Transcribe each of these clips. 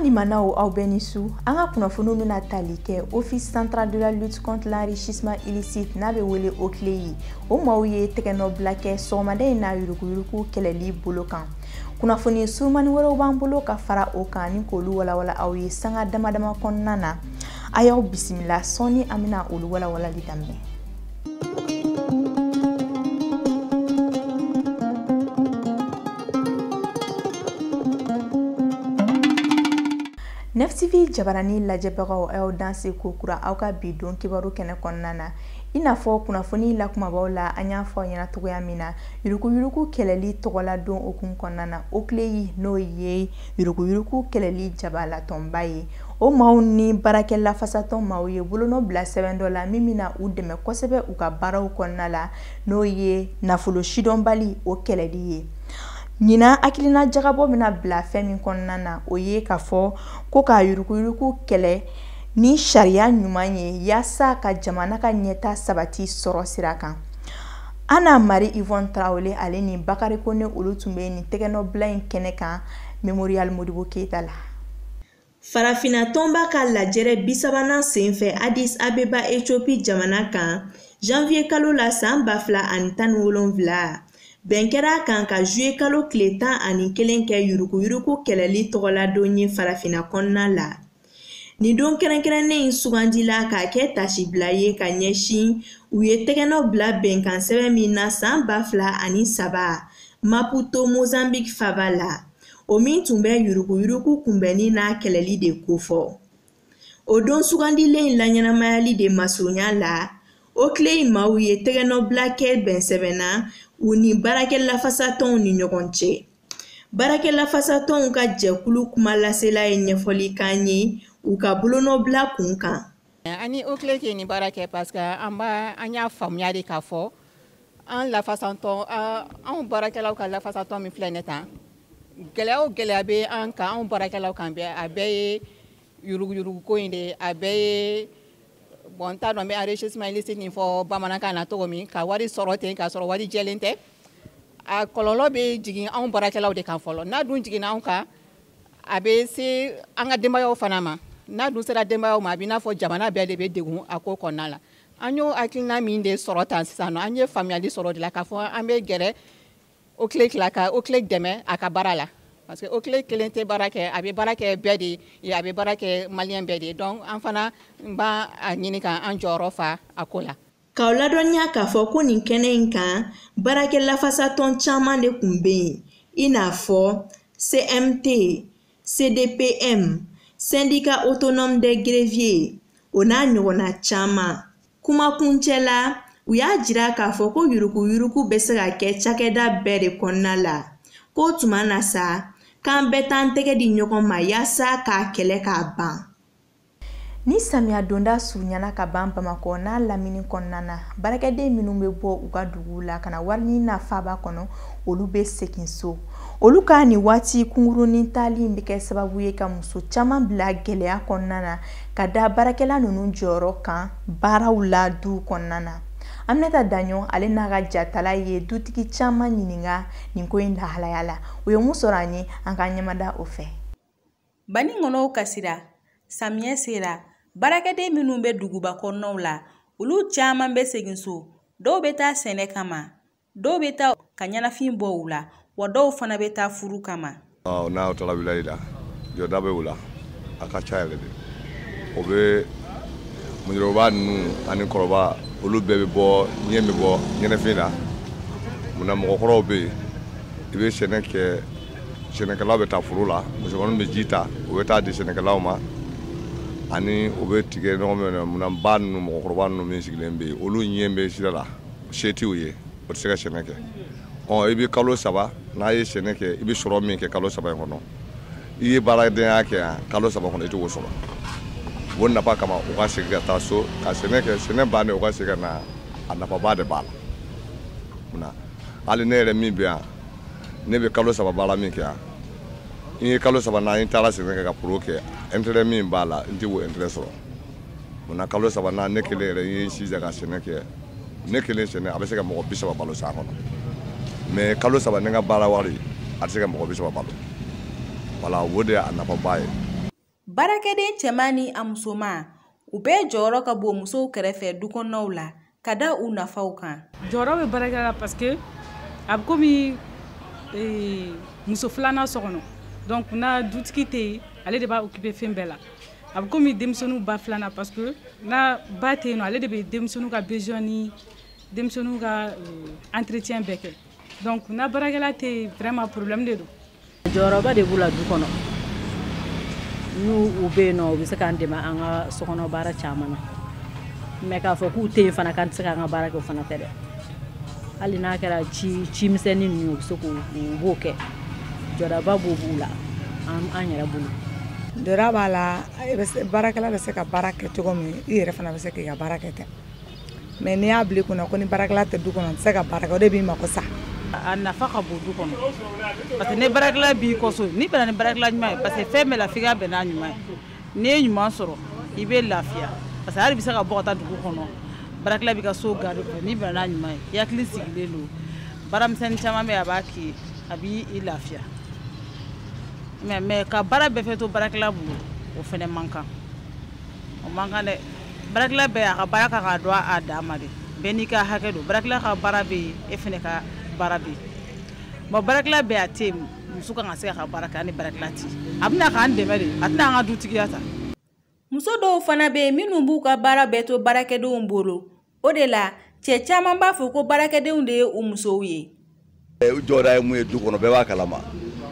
limanaw aw bɛɛ ni su an ka kunnafoniw bɛna tali kɛ office central de la lutte contre l'enrichissement illicite n'a bɛ wele oclei o maaw ye tɛgɛnɔbila kɛ sɔgɔmada in na yuruguyurugu kɛlɛli bolo kan kunnafoni surumani wɛrɛw b'an bolo ka fara o kan ni k'olu walawala aw ye sanga damadama kɔnɔna na a y'aw bisimila sɔɔni an bɛna olu walawalali daminɛ neftivi jabarani lajɛbagaw a y'aw danse kokura aw ka bi don kibaru kɛnɛ kɔnɔna na i n'a fɔ kunnafoni lakumabaw la an y'a fɔ ɲɛna cogoya min na yuruguyurugu kɛlɛli tɔgɔladon hukumu kɔnɔna na oclei n'o ye yuruguyurugu kɛlɛli jabalatɔnba ye o maaw ni baarakɛ lafasatɔn maaw ye bolonɔ bila sɛbɛn dɔ la min bɛna u dɛmɛ kosɛbɛ u ka baaraw kɔnɔna la n'o ye nafolo sidɔnbali o kɛlɛli ye ɲinan hakilina jagabɔ bɛna bila fɛn min kɔnɔna na o ye k'a fɔ ko ka yuruguyurugu kɛlɛ ni sariya ɲuman ye yaasa ka jamana ka ɲɛta sabati sɔrɔ sira kan ana mari ivɔn tarawele ale ni bakari kone olu tun bɛ nin tɛgɛnɔbila in kɛnɛ kan memorial modibo keita la farafina tɔnba ka lajɛrɛ bisabanan sen fɛ adis abeba etiopi jamana kan janviye kalo la san ba fila ani tan ni wolonfila bɛn kɛra a kan ka zuye kalo tile tan ani kelen kɛ yuruguyurugu kɛlɛli tɔgɔladon ye farafina kɔnɔna la nin don kɛrɛnkɛrɛnnen in sugandila k'a kɛ tasibila ye ka ɲɛsin u ye tɛgɛnɔ bila bɛnkan sɛbɛn min na san ba fila ani saba maputo mozambique faba la o min tun bɛ yuruguyurugu kunbɛnni n'a kɛlɛli de kofɔ o don sugandilen in laɲɛnamayali de masurunya la oclei maaw ye tɛgɛnɔbila kɛ bɛn sɛbɛn na u ni baarakɛ lafasatɔnw ni ɲɔgɔn cɛ baarakɛ lafasatɔnw ka jɛkulu kuma lasela ye ɲɛfɔli k'an ye u ka bolonɔbila kun kan an ni oclei ka nin baara kɛ parce que an b'a an y'a faamuya de k'a fɔ an lafasatɔn anw baarakɛlaw ka lafasatɔn min filɛ nin tan gɛlɛya o gɛlɛya bɛ an kan anw baarakɛlaw kan bɛɛ a bɛɛ ye yuruguyurugu ko in de a bɛɛ ye bon n t'a dɔn n bɛ enrichissement illicite nin fɔ bamanankan na cogo min ka wari sɔrɔ ten k'a sɔrɔ wari jɛlen tɛ a kɔlɔlɔ bɛ jigin anw baarakɛlaw de kan fɔlɔ n'a dun jiginna anw kan a bɛ se an ka denbayaw fana ma n'a dun sera denbayaw ma a bɛ n'a fɔ jamana bɛɛ de bɛ degun a ko kɔnɔna la an y'o hakilina min de sɔrɔ tan sisan an ye faamuyali sɔrɔ de la k'a fɔ an bɛ gɛrɛ OCLEI la ka OCLEI dɛmɛ a ka baara la parce que OCLEI kelen tɛ baara kɛ a bɛ baara kɛ bɛɛ de ye a bɛ baara kɛ maliyɛn bɛɛ de ye donc an fana b'a ɲini ka an jɔyɔrɔ fa a ko la K'aw ladɔnniya k'a fɔ ko nin kɛnɛ in kan baarakɛ lafasatɔn caman de tun bɛ yen i n'a fɔ CMT, CDTM, Syndicat Autonome des Greffiers o n'a ɲɔgɔnna caman. Kumakuncɛ la, u y'a jira k'a fɔ ko yuruguyurugu bɛ se ka kɛ cakɛda bɛɛ de kɔnɔna la, k'o tuma na sa, k'an bɛɛ t'an tɛgɛ di ɲɔgɔn ma yaasa k'a kɛlɛ k'a ban. ni samiya donda surunyana ka ban bamakɔ n'a lamini kɔnɔna na baarakɛden minnu bɛ bɔ u ka duguw la ka na wariɲini na faaba kɔnɔ olu bɛ segin so olu ka nin waati kunkurunin taali bɛ kɛ sababu ye ka muso caman bila gɛlɛya kɔnɔna na ka da baarakɛla ninnu jɔyɔrɔ kan baaraw la duw kɔnɔna na aminata daɲɔ ale n'a ka jatala ye dutigi caman ɲininka nin ko in lahalaya la u ye mun sɔrɔ an ye an ka ɲɛmada o fɛ Banikɔnɔw kasira, samiyɛ sera, baarakɛden minnu bɛ duguba kɔnɔnaw la, olu caman bɛ segin so. Dɔw bɛ taa sɛnɛ kama, dɔw bɛ taa ka ɲɛnafin bɔ u la, wa dɔw fana bɛ taa furu kama. N'a taara village la, jɔda bɛ u la, a ka ca yɛrɛ de. O bɛ musokɔrɔba ninnu ani kɔrɔba, olu bɛɛ bɛ bɔ ɲɛ bɛ bɔ ɲɛnafin na. Munna mɔgɔkɔrɔw bɛ yen, i bɛ sɛnɛ kɛ sɛnɛkɛlaw bɛ taa foro la musokɔrɔba bɛ ji ta u bɛ taa di sɛnɛkɛlaw ma ani u bɛ tigɛ ɲɔgɔn min na munna ba ninnu mɔgɔkɔrɔba ninnu min sigilen bɛ yen olu ɲɛ bɛ sira la se tɛ u ye o tɛ se ka sɛnɛ kɛ ɔ i bɛ kalo saba n'a ye sɛnɛ kɛ i bɛ sɔrɔ min kɛ kalo saba in kɔnɔ i ye baaradenya kɛ yan kalo saba kɔnɔ i t'o sɔrɔ o nafa kama u ka segin ka taa so ka sɛnɛ kɛ sɛnɛ bannen u ka segin ka na a nafaba de b'a la munna hali ne yɛrɛ min bɛ yan ne bɛ kalo saba baara min kɛ yan n ye kalo saba na n taara sɛnɛ kɛ ka foro kɛ intérêt min b'a la n tɛ o intérêt sɔrɔ munna kalo saba na ne kelen yɛrɛ n ye se ka sɛnɛ kɛ ne kelen sɛnɛ a bɛ se ka mɔgɔ bi saba balo san kɔnɔ mais kalo saba ne ka baara wari a tɛ se ka mɔgɔ bi saba balo voilà o de y'a nafaba ye Baarakɛden cɛman ni a musoman, u bɛɛ jɔyɔrɔ ka bon musow kɛrɛfɛ dukɔnɔnaw la, ka da u nafaw kan. Jɔyɔrɔ bɛ baarakɛla la parce que a bɛ komi ee, muso filanan so kɔnɔ donc n'a dutigi tɛ yen ale de b'a occuper fɛn bɛɛ la a bɛ komi denmisɛnninw ba filanan parce que n'a ba tɛ yen nɔ ale de bɛ denmisɛnninw ka besoin ni denmisɛnninw ka euh, entretien bɛɛ kɛ donc n'a baarakɛla tɛ yen vraiment problème de don jɔyɔrɔba de b'u la du kɔnɔ n'u u bɛ yen nɔ u bɛ se k'an dɛmɛ an ka sokɔnɔ baara caman na mais k'a fɔ k'u tɛ yen fana k'an tɛ se k'an ka baara kɛ o fana tɛ dɛ hali n'a kɛra ci ci misɛnnin ninnu u bɛ se k'u u b'o kɛ jɔdaba b'o b'u la an an yɛrɛ bolo jɔda b'a la baarakɛla bɛ se ka baara kɛ cogo min i yɛrɛ fana bɛ se k'i ka baara kɛ ten mais n'i y'a bila i kunna ko ni baarakɛla tɛ du kɔnɔ n tɛ se ka baara kɛ o de b'i mako sa a nafa ka bon du kɔnɔ parce que ni baarakɛla b'i ka so n'i bɛnna ni baarakɛla ɲuman ye parce que fɛn bɛɛ la f'i ka bɛn n'a ɲuman ye n'i ye ɲuman sɔrɔ i bɛ lafiya parce que hali bɛ se ka bɔ ka taa dugu kɔnɔ baarakɛla b'i ka so garde kɔnɔ n'i bɛnna n'a ɲuman ye i hakili sigilen don baaramisɛnnin caman bɛ yen a b'a k'i ye a b'i i lafiya mais mais ka baara bɛɛ fɛ to baarakɛla bolo o fɛnɛ man kan o man kan dɛ baarakɛla bɛɛ a ka baara kan ka dɔn a dan ma de bɛɛ n'i ka hakɛ don baarakɛla ka baara bɛ yen e fana ka baara bɛ yen bon baarakɛla bɛ yen a tɛ yen muso kan ka se ka baara kɛ ani baarakɛla tɛ a bɛ na k'an dɛmɛ de a tɛna an ka dutigiya ta muso dɔw fana bɛ yen minnu b'u ka baara bɛɛ to baarakɛdenw bolo o de la cɛ caman b'a fɔ ko baarakɛdenw de ye u musow ye u jɔda ye mun ye du kɔnɔ bɛɛ b'a kalama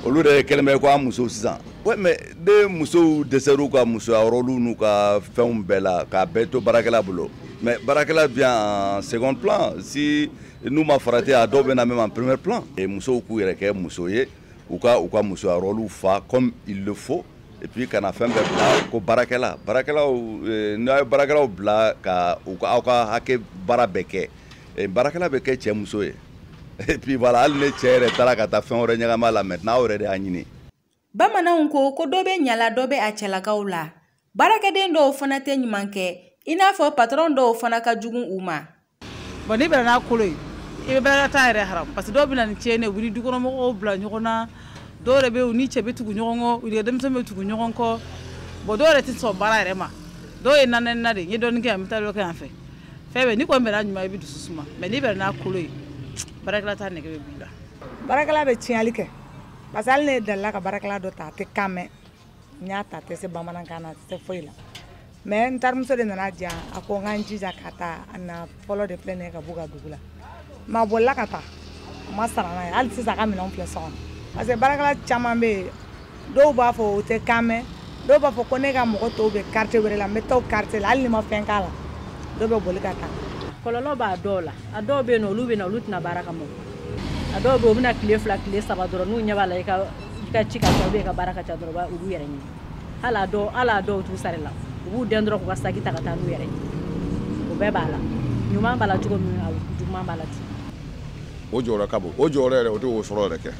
olu de kɛlen bɛ ko an musow sisan mais ni musow dɛsɛr'u ka musoya rôle n'u ka fɛnw bɛɛ la k'a bɛɛ to baarakɛla bolo mais baarakɛla vient en second plan si n'u ma farati a dɔw bɛ na même en premier plan musow k'u yɛrɛ kɛ muso ye u ka u ka musoya rôle fa comme il le faut et puis kana fɛn bɛɛ bila ko baarakɛla baarakɛlaw n'aw ye baarakɛlaw bila ka u ka aw ka hakɛ baara bɛɛ kɛ eh, baarakɛla bɛ kɛ cɛ muso ye et puis voilà hali ni cɛ yɛrɛ taara ka taa fɛn wɛrɛ ɲagami a la maintenant aw yɛrɛ de y'a ɲini bamananw ko ko dɔ bɛ ɲa la dɔ bɛ a cɛlakaw la baarakɛden dɔw fana tɛ ɲuman kɛ i n'a fɔ patɔrɔn dɔw fana ka jugu u ma bon n'i bɛnna n'a kolo ye i bɛ baarakɛla ta yɛrɛ haram parce que dɔw bɛ na ni tiɲɛni ye u bɛ dukɔnɔmɔgɔw bila ɲɔgɔn na dɔw yɛrɛ bɛ yen u ni cɛ bɛ tugu ɲɔgɔn kɔ u ni denmisɛnnin bɛ tugu ɲɔgɔn kɔ bon dɔw yɛrɛ tɛ sɔn baara yɛrɛ ma dɔw ye nanɛna de n ye dɔɔnin kɛ yan n bɛ taa dɔ kɛ yan fɛ fɛn bɛɛ n'i kɔni bɛnna ɲuman i bɛ dusu suma mais n'i bɛnna n'a kolo ye baarakɛla ta nɛgɛ bɛ b'i la baarakɛla bɛ tiɲɛli kɛ parce que hali ne delila ka baarakɛla dɔ ta a tɛ kan mɛn n y'a ta a tɛ se bamanankan na a tɛ se foyi la mais n terimuso de nana di yan a ko n ka n jija k'a ta a na fɔlɔ de filɛ nin ye ka b'u ka dugu la mais a bolila ka taa a ma sara n'a ye hali sisan a ka minɛnw filɛ so kɔnɔ parce que baarakɛla caman bɛ yen dɔw b'a fɔ u tɛ kan mɛn dɔw b'a fɔ ko ne ka mɔgɔ tɔw bɛ quartier wɛrɛ la n bɛ taa o quartier la hali n'i ma fɛn k'a la dɔw bɛ boli ka taa kɔlɔlɔ b'a dɔw la a dɔw bɛ yen nɔ olu bɛ na olu tɛ na baara kama a dɔw bɛ yen u bɛ na tile fila tile saba dɔrɔn n'u ɲɛ b'a la i ka i ka ci ka ca i ka baara ka ca dɔrɔn u b'u yɛrɛ ɲini hali a dɔw hali a dɔw t'u sara i la u b'u den dɔrɔn k'u ka saki ta ka taa n'u yɛrɛ ye o bɛɛ b'a la ɲuman b'a la cogo min na juguman b'a la ten o jɔyɔrɔ ka bon o jɔyɔrɔ yɛrɛ o tɛ o sɔrɔ yɛrɛ kɛ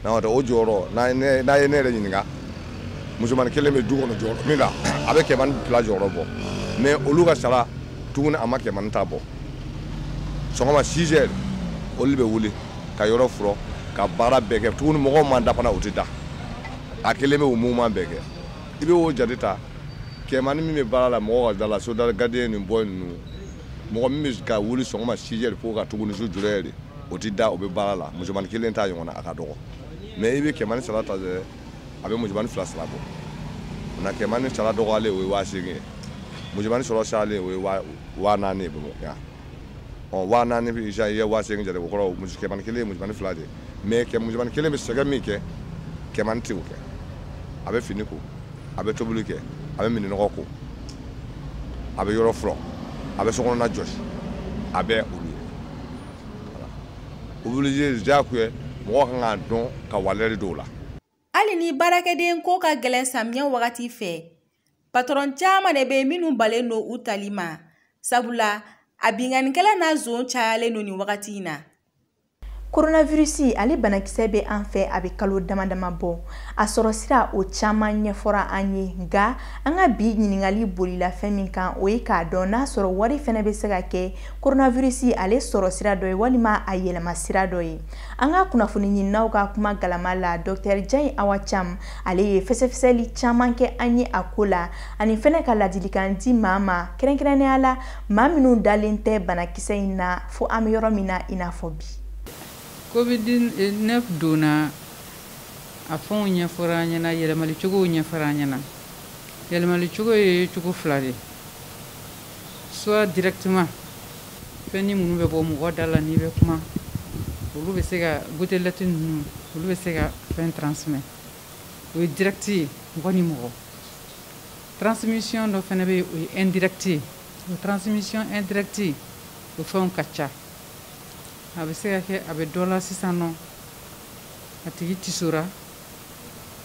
n'o tɛ o jɔyɔrɔ n'a ye ne yɛrɛ ɲininka musomanin kelen bɛ du kɔnɔ jɔyɔrɔ min na a bɛ kɛmani fila jɔyɔrɔ bɔ mais olu ka sara tuguni a ma kɛmani ta bɔ sɔgɔma six heures olu bɛ wuli ka yɔrɔ furɔ ka baara bɛɛ kɛ tuguni mɔgɔw ma da fana u tɛ da a kelen bɛ o mouvement bɛɛ kɛ i bɛ o jate ta kɛmani min bɛ baara la mɔgɔ ka da la soda la gardien ni boy ninnu mɔgɔ min bɛ ka wuli sɔgɔma six heures fo ka tuguni su zéro heure o tɛ da o bɛ baara la musomani kelen ta ɲɔgɔn na a ka dɔgɔ mais i bɛ kɛmani sara ta dɛ a bɛ musomani fila sara bɔ na kɛmani sara dɔgɔyalen o ye waa seegin ye musomani sɔrɔ cayalen o ye waa naani ye bamakɔ yan ɔ waa naani i ye waa seegin jate o kɔrɔ muso kɛmani kelen ye musomani fila de mais kɛ musomani kelen bɛ sɛgɛn min kɛ kɛmani tɛ o kɛ a bɛ fini ko a bɛ tobili kɛ a bɛ minɛnnɔgɔ ko a bɛ yɔrɔ furɔ a bɛ sokɔnɔna jɔsi a bɛ olu ye obligé diyagoya mɔgɔ kan k'a dɔn ka walɛri don u la Hali ni baarakɛden ko ka gɛlɛn samiyɛ wagati fɛ patɔrɔn caman de bɛ yen minnu balen don u tali ma sabula a binkannikɛla n'a zon cayalen don nin wagati in na koronavirisi ale banakisɛ bɛ an fɛ a bɛ kalo dama dama bɔ a sɔrɔ sira o caman ɲɛfɔra an ye nka an ka bi ɲininkali bolila fɛn min kan o ye k'a dɔn n'a sɔrɔ wari fɛnɛ bɛ se ka kɛ koronavirisi ale sɔrɔ sira dɔ ye walima a yɛlɛma sira dɔ ye an ka kunnafoni ɲininaw ka kuma galama la dɔktɛri jayi awa cam ale ye fɛsɛfɛsɛli caman kɛ an ye a ko la ani fɛnɛ ka ladilikan di maa ma kɛrɛnkɛrɛnnenya la maa minnu dalen tɛ banakisɛ in na fo an bɛ yɔrɔ min na i n'a fɔ bi covid 19 donna a fɛnw ɲɛfɔra an ɲɛna yɛlɛmali cogow ɲɛfɔra an ɲɛna yɛlɛmali cogo ye cogo fila de soit directement fɛnnin minnu bɛ bɔ mɔgɔ da la n'i bɛ kuma olu bɛ se ka gotelɛti ninnu olu bɛ se ka fɛn transmet o ye dirɛkiti ye mɔgɔ ni mɔgɔ transmission dɔ fɛnɛ bɛ yen o ye indirɛkiti ye o transmission indirɛkiti o fɛnw ka ca a bɛ se ka kɛ a bɛ dɔ la sisan nɔ a tigi tisora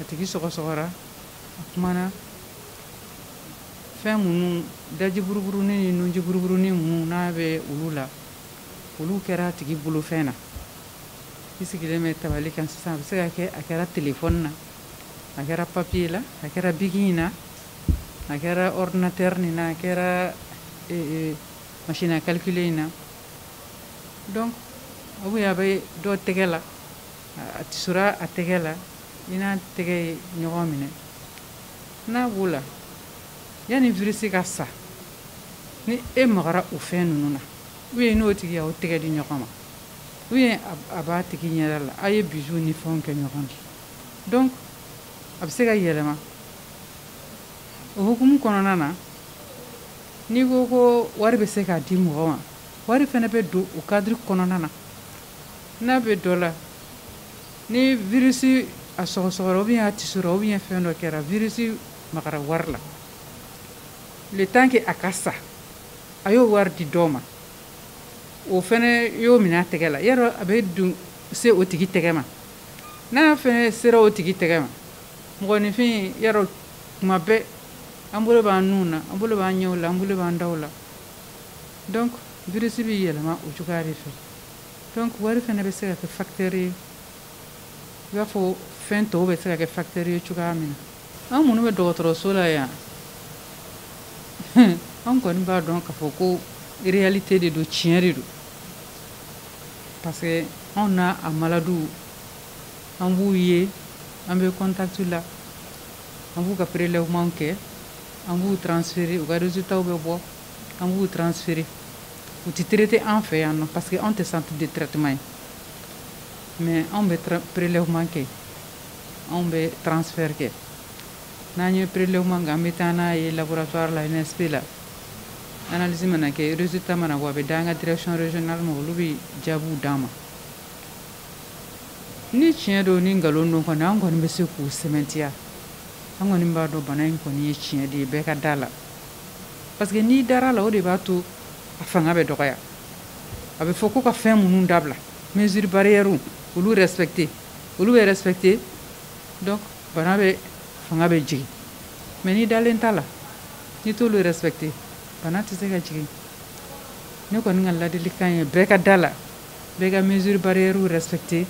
a tigi sɔgɔsɔgɔra a kumana Fɛn minnu dajiburuburunin ni nujiburuburunin minnu n'a bɛ olu la olu kɛra a tigi bolofɛn na i sigilen bɛ tabali kan sisan a bɛ se ka kɛ a kɛra telefɔni na a kɛra papiye la a kɛra biki in na a kɛra ordinateur nin na a kɛra machine à calculer in na donc a bɛ dɔ tɛgɛ la a tisora a tɛgɛ la i n'a tɛgɛ ye ɲɔgɔn minɛ n'a b'o la yanni virisi ka sa ni e magara o fɛn ninnu na ou bien n'o tigi y'aw tɛgɛ di ɲɔgɔn ma ou bien a b'a tigi ɲɛda la aw ye bisou ni fɛnw kɛ ɲɔgɔn na donc a bɛ se ka yɛlɛma o hukumu kɔnɔna na n'i ko ko wari bɛ se k'a di mɔgɔ ma wari fɛnɛ bɛ don o kadiri kɔnɔna na n'a bɛ dɔ la ni virisi a sɔgɔsɔgɔra ou bien a tisora ou bien fɛn dɔ kɛra virisi magara wari la le temps que a ka sa a y'o wari di dɔ ma o fɛnɛ y'o minɛ a tɛgɛ la yarɔ a bɛ dun se o tigi tɛgɛ ma n'a fɛnɛ sera o tigi tɛgɛ ma mɔgɔninfin yarɔ tuma bɛɛ an bolo b'an nunw na an bolo b'an ɲɛw la an bolo b'an daw la donc virisi bɛ yɛlɛma o cogoya de fɛ donc wari fɛnɛ bɛ se ka kɛ facteur ye i b'a fɔ fɛn tɔw bɛ se ka kɛ facteur ye cogoya min na an minnu bɛ dɔgɔtɔrɔso la yan an kɔni b'a dɔn k'a fɔ ko réalité de don tiɲɛ de don parce que anw n'a a maladiw an b'u ye an bɛ contact la an b'u ka prélèvement kɛ an b'u transférer u ka résultats bɛ bɔ an b'u transférer u tɛ traiter an fɛ yan nɔ parce que anw tɛ centre de traitement ye mais anw bɛ prélèvement kɛ anw bɛ transfert kɛ n'an ye prélèvement kɛ an bɛ taa n'a ye laboratoire la INSP la analyse mana kɛ résultat mana bɔ a bɛ d'an ka direction régionale ma olu bɛ jaabiw d'an ma ni tiɲɛ don ni nkalon don kɔni an kɔni bɛ se k'u sɛmɛntiya an kɔni b'a dɔn bana in kɔni ye tiɲɛ de ye bɛɛ ka da la parce que n'i dara la o de b'a to a fanga bɛ dɔgɔya a bɛ fɔ ko ka fɛn minnu dabila mesure barrière olu respecter olu bɛ respecter donc bana bɛ fanga bɛ jigin mais n'i dalen t'a la n'i t'olu respecter bana tɛ se ka jigin ne kɔni ka ladilikan ye bɛɛ ka da la bɛɛ ka mesure barrière respecter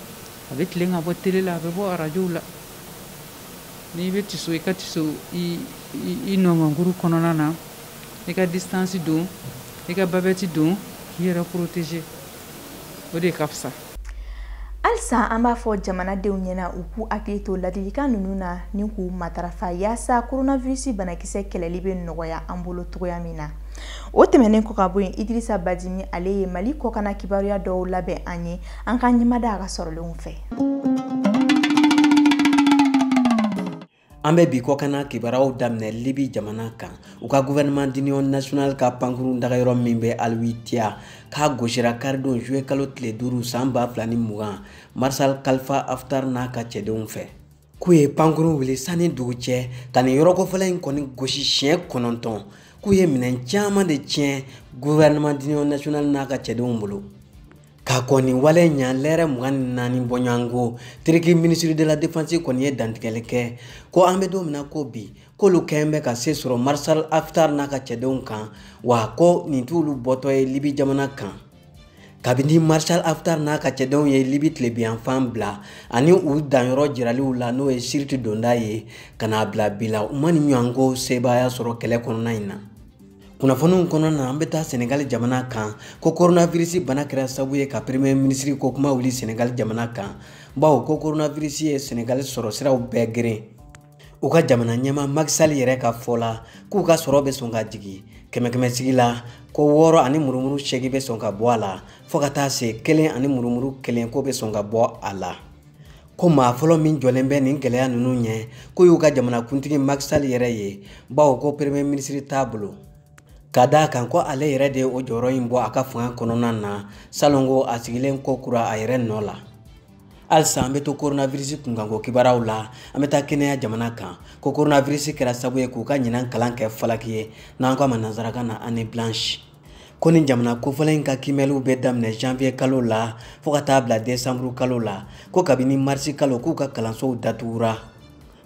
a bɛ tilen ka bɔ tele la a bɛ bɔ arajow la n'i bɛ tiso i ka tiso i nɔngɔnkuru kɔnɔna na i ka distance don i ka babɛti don k'i yɛrɛ protéger o de ka fisa halisa an b'a fɔ jamanadenw ɲɛna u k'u hakili to ladilikan ninnu na ni k'u matarafa yaasa koronavirisi banakisɛ kɛlɛli bɛ nɔgɔya an bolo cogoya min na o tɛmɛnen kɔ ka bɔ yen idirisa badimi ale ye mali kɔkana kibaruya dɔw labɛn an ye an ka ɲɛmada a ka sɔrɔlenw fɛ an bɛ bi kɔkanna kibaruyaw daminɛ libi jamana kan u ka gouvernement d'union nationale ka pankurun dagayɔrɔ min bɛ alwitiya k'a gosira karidon juillet kalo tile duuru san ba fila ni mugan marsal kalifa aftar n'a ka cɛdenw fɛ k'u ye pankurun wuli san ni dugu cɛ ka nin yɔrɔ kofɔlen in kɔni gosi siɲɛ kɔnɔntɔn k'u ye minɛn caman de tiɲɛ gouvernement d'union nationale n'a ka cɛdenw bolo ka kɔn nin wale ɲa lɛrɛ mugan ni naani bɔɲɔgɔnko turiki minisiri de la defansi kɔni ye dantigɛli kɛ ko an bɛ don min na ko bi k'olu kɛn bɛ ka se sɔrɔ marshal aftar n'a ka cɛdenw kan wa ko nin t'olu bɔtɔ ye libi jamana kan kabini marshal aftar n'a ka cɛdenw ye libi tilebinyanfan bila ani u danyɔrɔ jiraliw la n'o ye siriti donda ye ka n'a bila bi la u ma nin ɲɔgɔnko sebaaya sɔrɔ kɛlɛ kɔnɔna in na kunnafoniw kɔnɔna na an bɛ taa senegali jamana kan ko koronavirisi bana kɛra sabu ye ka premier minisiri ko kuma wuli senegali jamana kan bawo ko koronavirisi ye senegali sɔrɔ siraw bɛɛ geren u ka jamana ɲɛmaa Macky Sall yɛrɛ ka fɔ la k'u ka sɔrɔ bɛ sɔn ka jigin kɛmɛkɛmɛ sigi la ko wɔɔrɔ ani murumuru segin bɛ sɔn ka bɔ a la fɔɔ ka taa se kelen ani murumuru kelen ko bɛ sɔn ka bɔ a la ko maa fɔlɔ min jɔlen bɛ nin gɛlɛya ninnu ɲɛ k'o y'u ka jamanakuntigi Macky Sall yɛrɛ ye bawo ko premier minisiri t'a bolo ka d'a kan ko ale yɛrɛ de ye o jɔyɔrɔ in bɔ a ka fanga kɔnɔna na salon ko a sigilen kokura a yɛrɛ nɔ la halisa an bɛ to coronavirus kunkanko kibaruyaw la an bɛ taa Kenya jamana kan ko coronavirus kɛra sababu ye k'u ka ɲinan kalan kɛ falaki ye n'an k'a ma nanzarakan na année blanche ko nin jamana kofɔlen in ka kiimɛliw bɛ daminɛ janvier kalo la fɔɔ ka taa bila desanburu kalo la ko kabini marisi kalo k'u ka kalansow datugura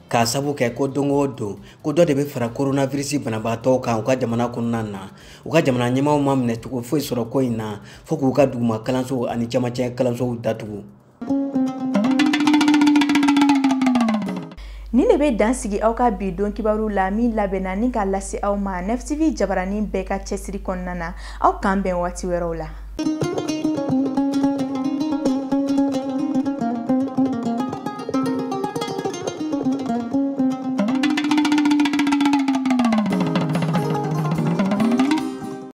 k'a sabu kɛ ko don o don ko dɔ de bɛ fara koronavirisi banabaatɔw kan u ka jamana kɔnɔna na u ka jamana ɲɛmaaw ma minɛ cogo foyi sɔrɔ ko in na fɔɔ k'u ka duguma kalansow ani camancɛ kalansow datugu Nin de bɛ dan sigi aw ka bi don kibaru la min labɛnna ni ka lase aw ma nefitibi jabaranin bɛɛ ka cɛsiri kɔnɔna na aw k'an bɛn waati wɛrɛw la